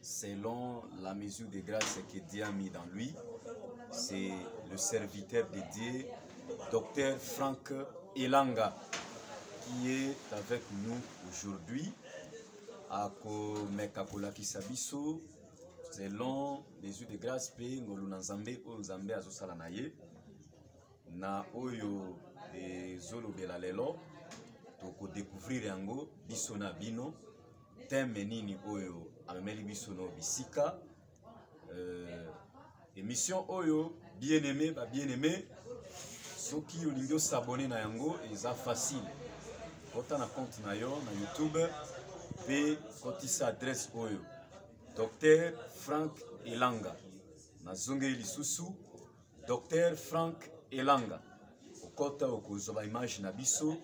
Selon la mesure de grâce que Dieu a mis dans lui, c'est le serviteur de Dieu, docteur Franck Elanga, qui est avec nous aujourd'hui. akomeka kolakisa biso selon mesure de grâce mpe ngolu na nzambe oyo nzambe azosala na ye na oyo ezolobela lelo tokodecouvrir yango biso na bino teme nini oyo amemeli biso na bisika euh, émission oyo bien aimé ba bien aimé soki olingi osabone na yango eza facile kota na compte na yo na youtube mpe kotisa adresse oyo docteur frank elanga nazongeli lisusu Docteur Frank Elanga, okota okozwa ba image na biso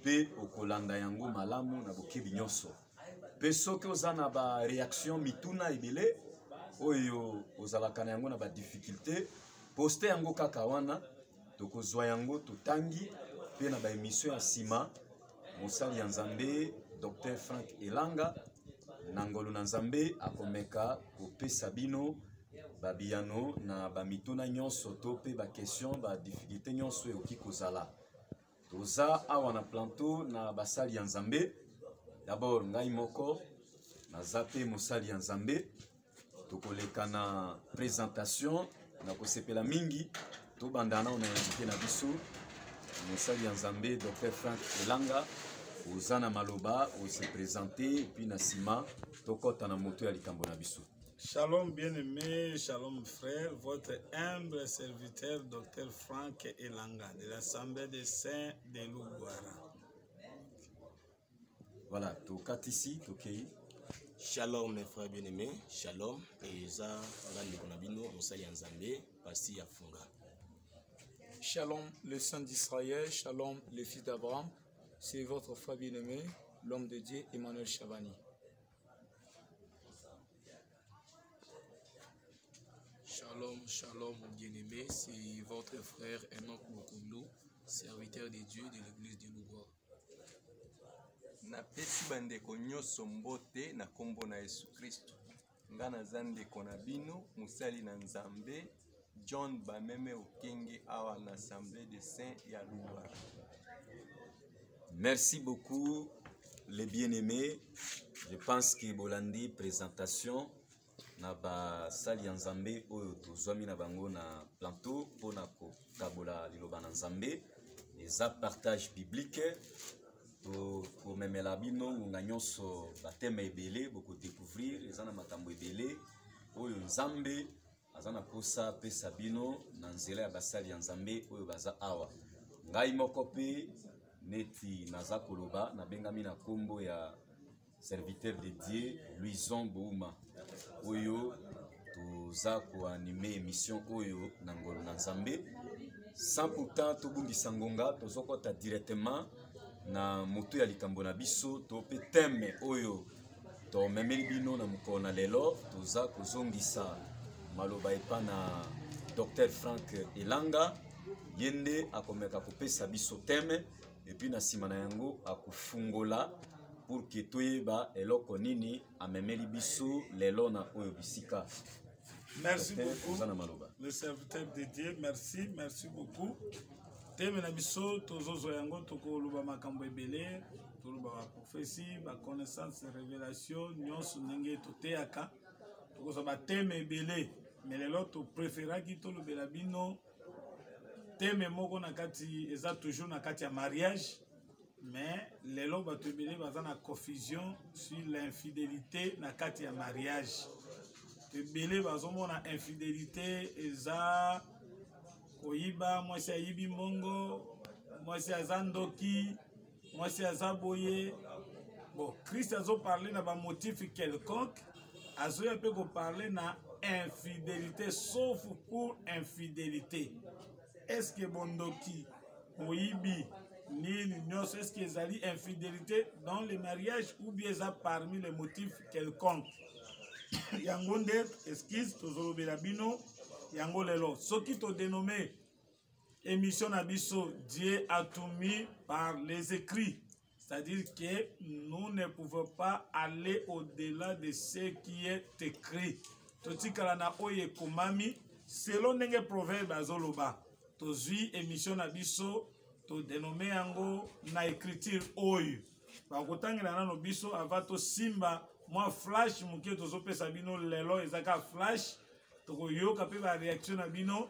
mpe okolanda yango malamu na bokebi nyonso. Mpe soki oza na ba reaction mituna ebele oyo ozalaka na yango na ba difficulté, poste yango kaka wana, tokozwa yango totangi mpe na ba emission ya nsima mosali ya nzambe dr frank elanga na ngolu na nzambe akomeka kopesa bino babiyano na bamituna nyonso to mpe bakestion badifficulte nyonso ekoki kozala toza awa na planto na basali ya nzambe dabord ngai moko naza mpe mosali ya nzambe tokoleka na présentation na kosepela mingi tobanda nao na invité na biso mosali ya nzambe dr frank elanga oza na maloba ose présente epuis na nsima tokɔta na moto ya likambo na biso Shalom bien-aimé, shalom frère, votre humble serviteur Dr Frank Elanga de l'Assemblée des Saints de Lougouara. Voilà, tokatisi, tokei. Shalom mes frères bien-aimés, shalom et eza nga ndeko na bino mosali ya Nzambe, pasi ya funga. Shalom le saint d'Israël, shalom le fils d'Abraham, c'est votre frère bien-aimé, l'homme de Dieu Emmanuel Chabani. Shalom, shalom mon bien-aimé, c'est votre frère Enoch Mokoulou, serviteur de Dieu de l'église de Loubois. napesi bandeko nyonso mbote na nkombo na yesu kristo nga naza ndeko na bino mosali na nzambe john bameme okenge awa na assemblée de saint ya luba merci beaucoup les bien aimés je pense que bolandi présentation na basali ya nzambe oyo tozwami na bango na planteau mpo na kokabola liloba na nzambe eza partage biblique tokomemela bino ngonga nyonso bateme ebele bokodecouvrir eza na makambo ebele oyo nzambe aza na mposa apesa bino na nzela ya basali ya nzambe oyo baza awa ngai moko mpe neti naza koloba nabengami na nkombo ya serviteur de dieu louison bouma oyo toza koanime émission oyo na ngolo na nzambe sans pourtant tobungisa ngonga tozokɔta directement na motu ya likambo na biso to mpe teme oyo tomemeli bino na mokolo na lelo toza kozongisa maloba epa na dr frank elanga ye nde akomeka kopesa biso teme epuis na nsima na yango akofungola pour ke toyeba eloko nini amemeli biso lelo na oyo bisika merci beaucoup na maloba le serviteur de dieu merci merci beaucoup teme na biso tozozwa yango tokoloba makambo ebele toloba baprofesi baconnaissance révélation nyonso ndenge toteyaka tokozwa bateme ebele me lelo topreferaki tolobela bino teme moko na kati eza toujours na kati ya mariage mais lelo bato ebele baza na confusion sur l'infidélité na kati ya mariage ebele bazomona infidélité eza koyiba mwasi ayibi mbongo mwasi aza ndoki mwasi aza boye bon christ azoparle na bamotif quelconque azoya mpe koparle na infidélité sauf pour infidélité est ce que bondoki moyibi nini nyonso est ce que ezali infidélité dans le mariage ou bien eza parmi les motifs quelconque yango nde excuse tozolobela bino yango lelo soki todenome emission na biso dieu atumi par les écrits c'est-à-dire que nous ne pouvons pas aller au-delà de ce qui est écrit totikala na oyo ekomami selon ndenge proverbe azoloba tozwi émission na biso todenome yango na écriture oyo bakotangela nano biso ava tosimba mwa flash moke tozopesa bino lelo eza kaka flash tokoyoka mpe bareaction na bino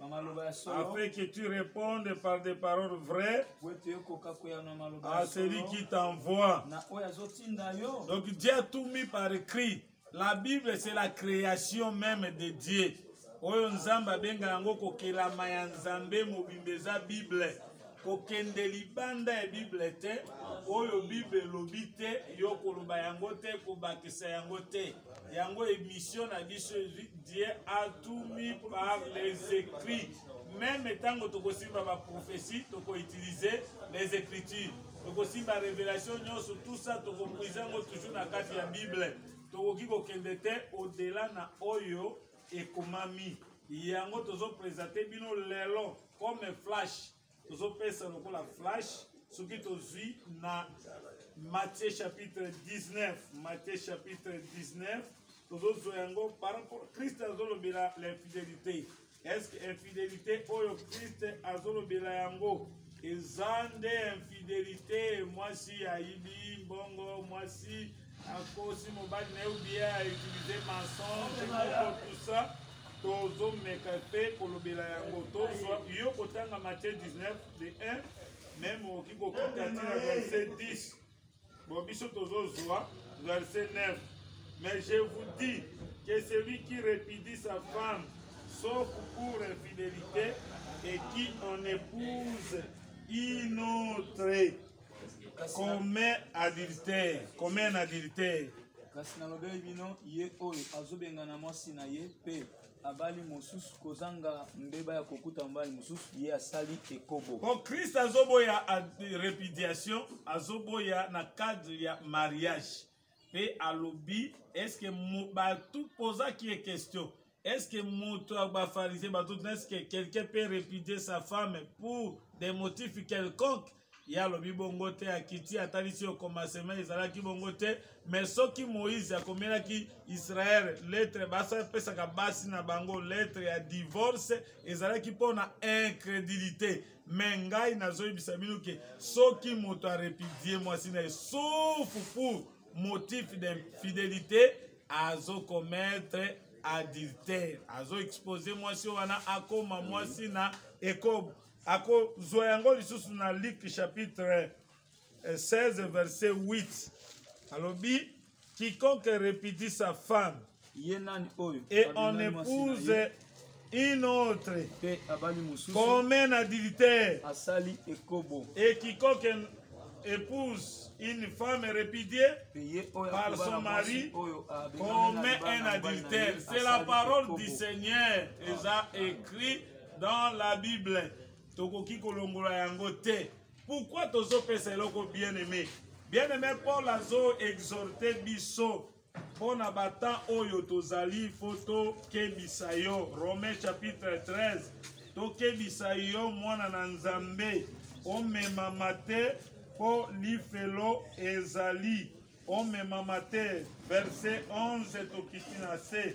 afin que tu répondes par des paroles vraies à celui qui t'envoie. Donc Dieu a tout mis par écrit. La Bible, c'est la création même de Dieu. oyo nzambe abenga yango kokelama ya nzambe mobimba eza bible kokende libanda ya bible te oyo bible elobi te yo koloba yango te kobakisa yango te yango émission na biso ezwi dieu atumi par les écrits meme ntango tokosimba baprophétie tokoutilize les écritures tokosimba révélation nyonso tout ça tokopuise yango toujours na kati ya bible tokoki kokende te odela na oyo ekomami yango tozopresente bino lelo comme flash tozopesa lokola flash soki tozwi na matthieu chapitre 19 matthieu chapitre 19 tozozwa yango par rapport christ azolobela l'infidélité est ce que infidélité oyo christ azolobela yango eza nde infidélité mwasi ayibi mbongo mwasi akosi mobali na ye obie a utilize mensonge moko tout ça tozomeka mpe kolobela yango tozwa yo kotanga matie 19 de 1 meme okoki kokita ti na verset 10 bon biso tozozwa verset 9 mais je vous dis que celui qui répudie sa femme sauf pour infidélité et qui en épouse une autre commun adultère commun adultère kasi nalobeli bino ye oyo azobengana mwasi na ye mpe abali mosusu kozanga mbeba ya kokuta mobali mosusu ye asali ekobo po kristo azoboya repudiation azoboya na cadre ya mariage mpe alobi eske bato pozaki ye question eske moto ya bafarise bato tuna eske quelqu'un peut répudier sa femme pour des motifs quelconque ye alobi bongo te akiti atalisi yo commencement ezalaki bongo te mais soki moïse akomelaki israele lettre basapesaka basi na bango lettre ya divorce ezalaki mpo na incrédulité me ngai nazoyebisa bino ke soki moto arepudie mwasi na ye sauf pour motif d'infidélité azokomettre adultère azoexpose mwasi wana akoma mwasi na ekobo akozwa yango lisusu na luk chapitre 16 eh, verset 8 alobi Quiconque répudie sa femme ye nani oyo et on épouse une autre mpe abali mosusu comme un adultère asali ekobo et quiconque épouse une femme répudiée par son mari commet un adultère. C'est la parole du Seigneur. Ils a écrit dans la Bible. tokoki kolongola yango te Pourquoi tozo pesa eloko bien aimé? Bien aimé Paul azo exhorter biso mpo na bata oyo tozali mpo tokebisa yo romain chapitre 13 tokebisa yo mwana na nzambe omemama te mpo lifelo ezali omemama te verse 11 tokiti na se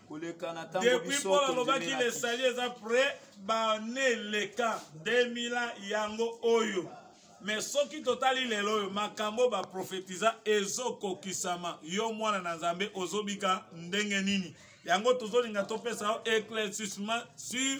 koleka na tango depuis mpo nalobaki lesali eza près bane eleka 2000 yango oyo me soki totali lelo oyo makambo baprofetiza ezokokisama yo mwana na nzambe ozobika ndenge nini yango tozolinga topesa yo éclaircissement sur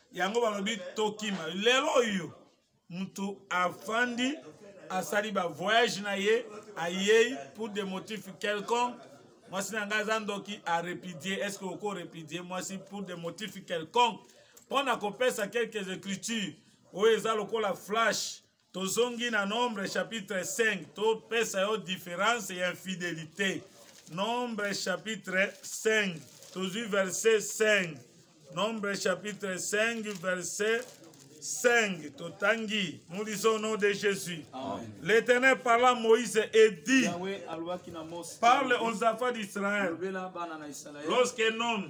yango balobi tokima lelo oyo moto afandi asali bavoyage na ye ayei pour des motifs quelconque mwasi na ngai aza ndoki arepudie est ce que oko repudie mwasi pour des motifs quelconque mpo na kopesa quelques écritures oyo eza lokola flash tozongi na nombre chapitre 5 topesa yo différence ya infidélité nombre chapitre 5 tozwi verset 5 nombre chapitre 5 verset 5 totangi nous lisons au nom de jésus l'éternel parla moïse et dit parle aux enfants d'israël lorsqu'un homme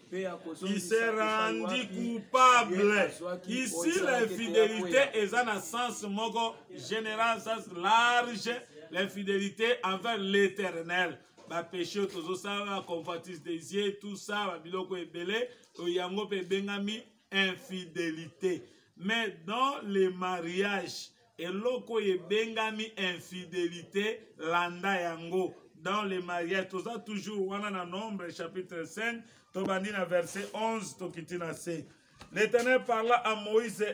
il s'est rendu coupable ici l'infidélité eza na sens moko général sens large l'infidélité envers l'éternel bapeshe oyo tozosala convoitise des yeux tout ça babiloko ebele to yango mpe ebengami infidélité mais dans le mariage eloko oyo ebengami infidelité landa yango dans le mariage toza toujours wana na nombre chapitre 5 tobandi na verset 11 tokiti na se l'éternel parla à moïse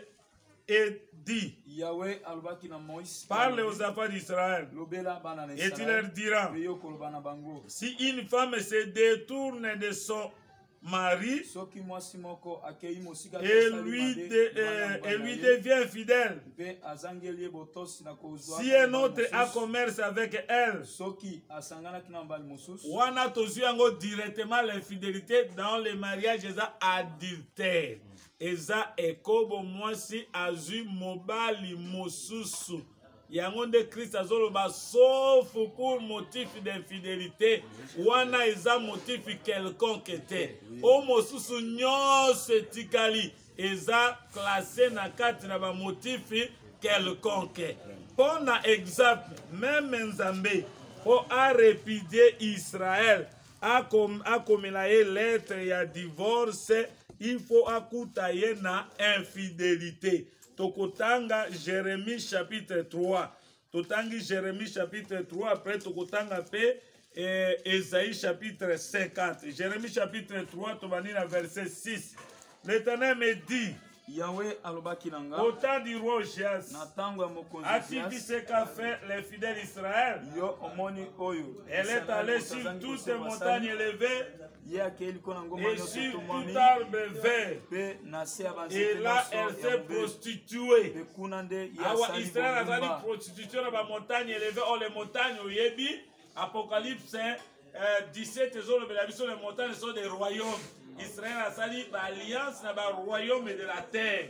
et dit Yahweh alobaki na Moïse parle aux enfants d'Israël lobela bana na Israël et tu leur diras si une femme se détourne de son mari soki mwasi moko akei mosika et lui, de, euh, et lui devient infidèle mpe azangeli ye botosi na kozwa si un autre a commerce avec elle soki asanganaki na mobali mosusu wana tozwi yango directement l'infidélité dans le mariage eza adultère eza ekobo mwasi azwi mobali mosusu yango nde krist azoloba sauf pour motif d'infidélité wana eza motif quelconque te o mosusu nyonso etikali eza classe na kati na bamotifi quelconque mpo na exemple meme nzambe mpo arepudie israel akom, akomela ye lettre ya divorce il faut akuta ye na infidélité tokotanga jeremie chapitre 3 totangi jeremie chapitre 3 après tokotanga mpe eh, esaïe chapitre 50 jeremie chapitre 3 tobandi na verset 6 l'éternel me dit Yahweh alobaki na nga au temps du roi Ozias na ntango ya mokonzi activité ce qu'a fait les fidèles Israël yo omoni oyo elle est allée sur toutes les montagnes élevées ye akei likolo na ngomba nyonso etumami mpe na se ya banzete nyonso ya prostitue mpe kuna nde ye awa israel azali prostitution na bamontagne eleve o le montagne oyebi apocalypse 17 eh, ezolobela biso le montagne so de royaume israel asali baalliance na baroyaume de la terre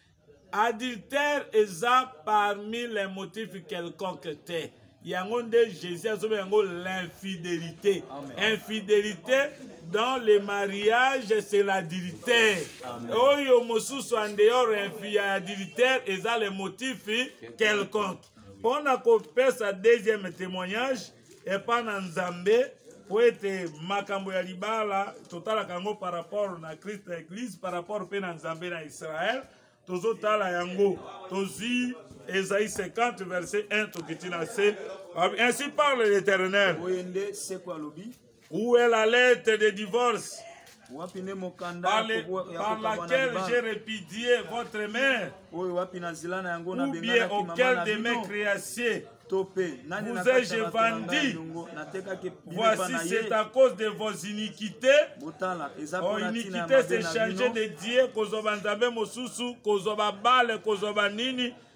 adultère eza parmi les motifs quelconque te yango nde jésus azobe yango l'infidélité infidélité dans le mariage c'est l'adultère oyo mosusu en dehors ya adultère eza le motif quelconque mpo na kopesa deuxième témoignage epa na nzambe mpo ete makambo ya libala totalaka yango par rapport na christ na eglise par rapport mpe na nzambe na israel tozotala yango tozwi ezali 50 verset 1 tokiti na se ainsi parle l'éternel Où est la lettre de divorce wapi nde mokanda par, le, par laquelle j'ai répudié votre mère oyo wapi na zela na yango na bien auquel de mes créations vous ai-je vendu Voici, c'est à cause de vos iniquités. Oh, iniquité, c'est changer de Dieu, kozwa banzambe mosusu, kozwa babale, kozwa banini.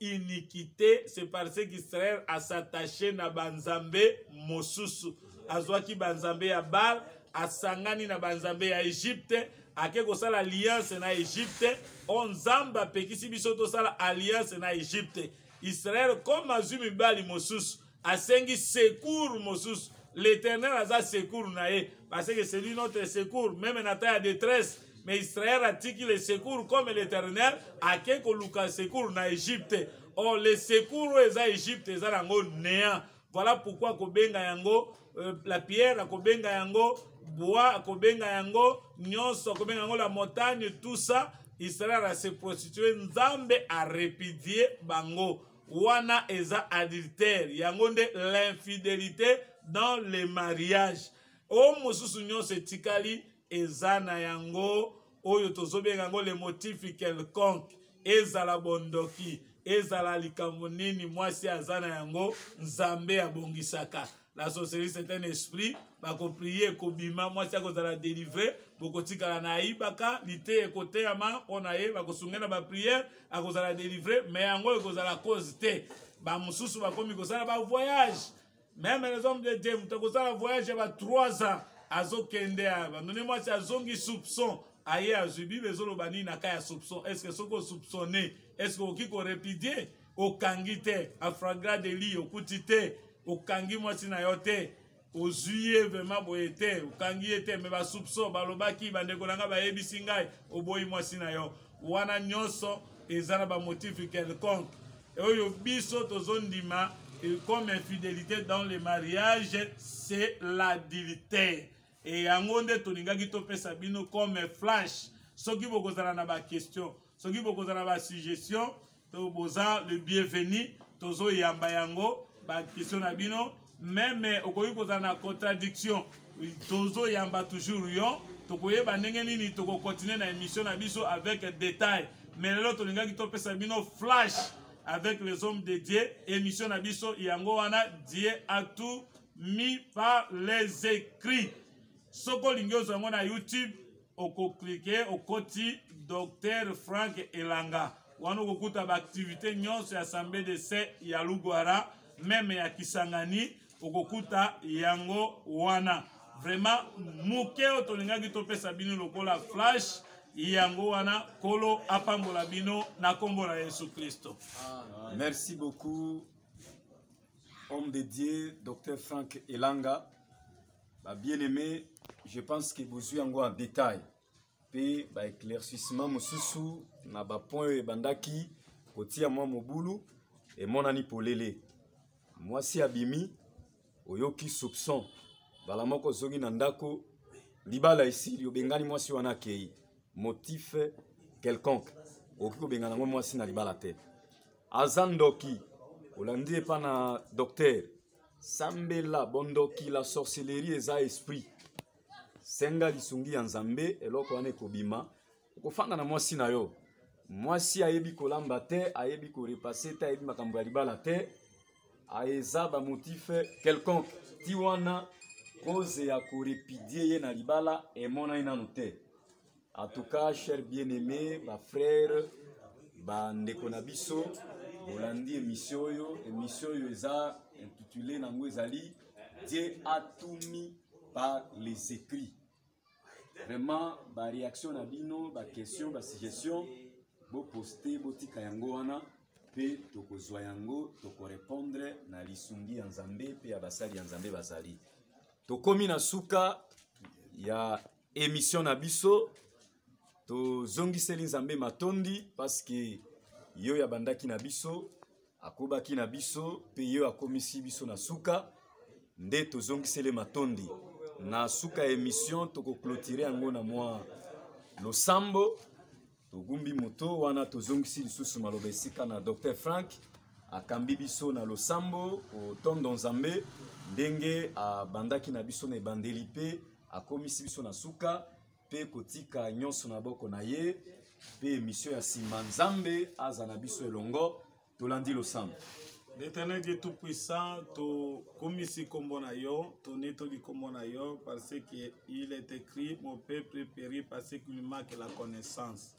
iniquité c'est parce qu'israel asattache na banzambe mosusu azwaki banzambe ya bal asangani na banzambe ya egypte ake kosala alliance na egypte o nzambe apekisi biso tosala alliance na egypte israel comme azwi mibali mosusu asengi secours mosusu l'éternel aza secours na ye parce que c'est lui notre secours meme na temps ya détresse mais israel atiki le secours comme l'éternel ake koluka secours na egypte or oh, le secours oyo eza egypte eza nango néant voilà pourquoi akobenga yango euh, la pierre akobenga yango bois akobenga yango nyonso akobenga yango la montagne tout ça israel ase prostitue nzambe arepidie bango wana eza adultère yango nde l'infidélité dans le mariage oyo mosusu nyonso etikali eza na yango oyo tozobenga yango le motif quelconque ezala bondoki ezala likambo nini mwasi aza na yango nzambe abongisaka la sorcellerie c'est un esprit bakoprie ekobima mwasi akozala délivre bokotikala na ayibaka liteya ekoteyama mpo na ye bakosunge na bapriere akozala délivre me yango ekozala cause te bamosusu bakomi kosala bavoyage meme les hommes de dieu moto akosala voyage ya ba 3 ans azokende ya bandone mwasi azongi soupçon aye azwi bible ezoloba nini na ka ya soupçon est ce que soki osoupçonne est ce que okoki korepidie okangi te afragra de li okuti te okangi mwasi na yo te ozwi ye vraimen boye te okangi ye te me basoupso balobaki bandeko na ngai bayebisi ngai oboyi mwasi na yo wana nyonso eza na bamotife quelconque oyo biso tozondima comme infidélité dans le mariage c'est l'adultère e yango nde tolingaki topesa bino comme flash soki bokozala na baquestion soki bokozala na basuggestion to boza le bienvenu tozoyamba yango baquestion na bino meme okoki kozala na contradiction tozoyamba toujours yo tokoyeba ndenge nini tokokontinue na émission na biso avec détail mais lelo tolingaki topesa bino flash avec les hommes de dieu émission na biso yango wana dieu a tout mis par les écrits soki olingi ozwa yango na youtube okoklike okoti docteur frank elanga wana okokuta baaktivité nyonso ya sambe de se ya lugwara meme ya kisangani okokuta yango wana vraiment moke oyo tolingaki topesa bino lokola flash yango wana kolo apambola bino na nkombo na yesu kristo merci beaucoup homme de dieu dr frank elanga ba bien aimé je pense que bozwi yango en détail mpe baéclaircissement mosusu na bapoint oyo ebandaki kotia mwa mobulu emonani polele mwasi abimi oyoki soupçon mbala moko ozongi na ndako libala esili obengani mwasi wana akei motif quelconque okoki kobengana yango mwasi na libala te aza ndoki olandi epa na docteur sambela bondoki la sorcellerie eza esprit senga lisungi ya nzambe eloko wana ekobima okofanda na mwasi na yo mwasi ayebi kolamba te ayebi korepase te ayebi makambo ya libala te eza bamotif quelconque ti wana koze ya korepidie ye na libala emonani nanu te En tout cas, cher bien-aimé, ma frère, ba ndeko na biso, bolandi émission oyo, émission oyo eza intitulé nango ezali Dieu a tout mis par les écrits. Vraiment, ba réaction na bino, ba question, ba suggestion, bo poster, bo tika yango wana pe tokozwa yango, toko répondre na lisungi ya Nzambe pe ya basali ya Nzambe bazali. Tokomi na suka ya emission na biso tozongiseli nzambe matondi paske yo ya bandaki na biso akobaki na biso mpe yo akomisi biso na suka nde tozongiseli matondi na suka ya emission tokoklotire yango na mwa losambo togumbi moto wana tozongisi lisusu maloba esika na dr frank akambi biso na losambo kotondo nzambe ndenge abandaki na biso na ebandeli mpe akomisi biso na suka mpe kotika nyonso na boko na ye mpe emisio ya nsima nzambe aza na biso elongo tolandi losambo L'Éternel Dieu Tout-Puissant, tokumisi kombo na yo, tonetoli kombo na yo, parce que il est écrit, mon peuple périt parce qu'il manque la connaissance.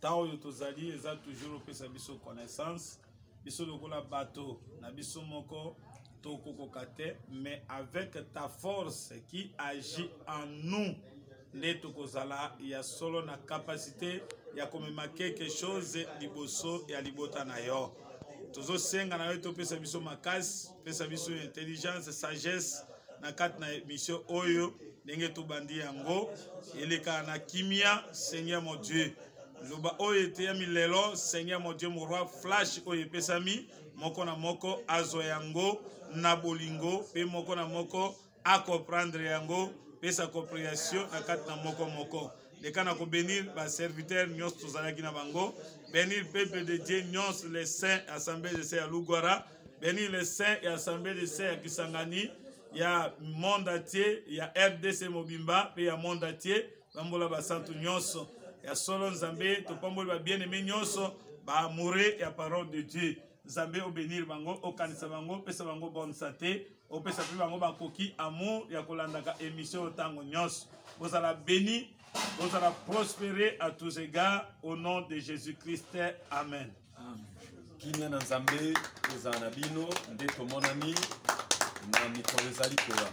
Tant oyo tozali eza toujours opesa biso connaissance, biso lokola bato na biso moko tokokoka te, mais avec ta force qui agit en nous, nde tokozala ya solo na kapasite ya komema quelque chose liboso ya libota na yo tozosenga na yo ete opesa biso makasi pesa biso intelligence sagesse na kati na emission oyo ndenge tobandi yango elekaka na kimia seigneur mon dieu loba oyo eteyami lelo seigneur mon dieu moroi flash oyo epesami moko na moko azwa yango na bolingo mpe moko na moko acomprendre yango pesa comprehension na kati na moko moko leka na kobenir baserviteur nyonso tozalaki na bango benir peuple de dieu nyonso le saint assemblée de se ya lugwara benir le saint ya assemblée de se ya kisangani ya monde atie ya rdc mobimba mpe ya monde atie bambola basantu nyonso ya solo nzambe topamboli babieneme nyonso baamoure ya parole de dieu nzambe obenir bango okanisa bango opesa bango bonne sante opesa mpe bango bakoki amour ya kolandaka émission oyo ntango nyonso bozala béni bozala prospere à tous égards au nom de jésus christ amen, amen. kimia na nzambe ezala na bino nde tomonani na mikolo ezali koya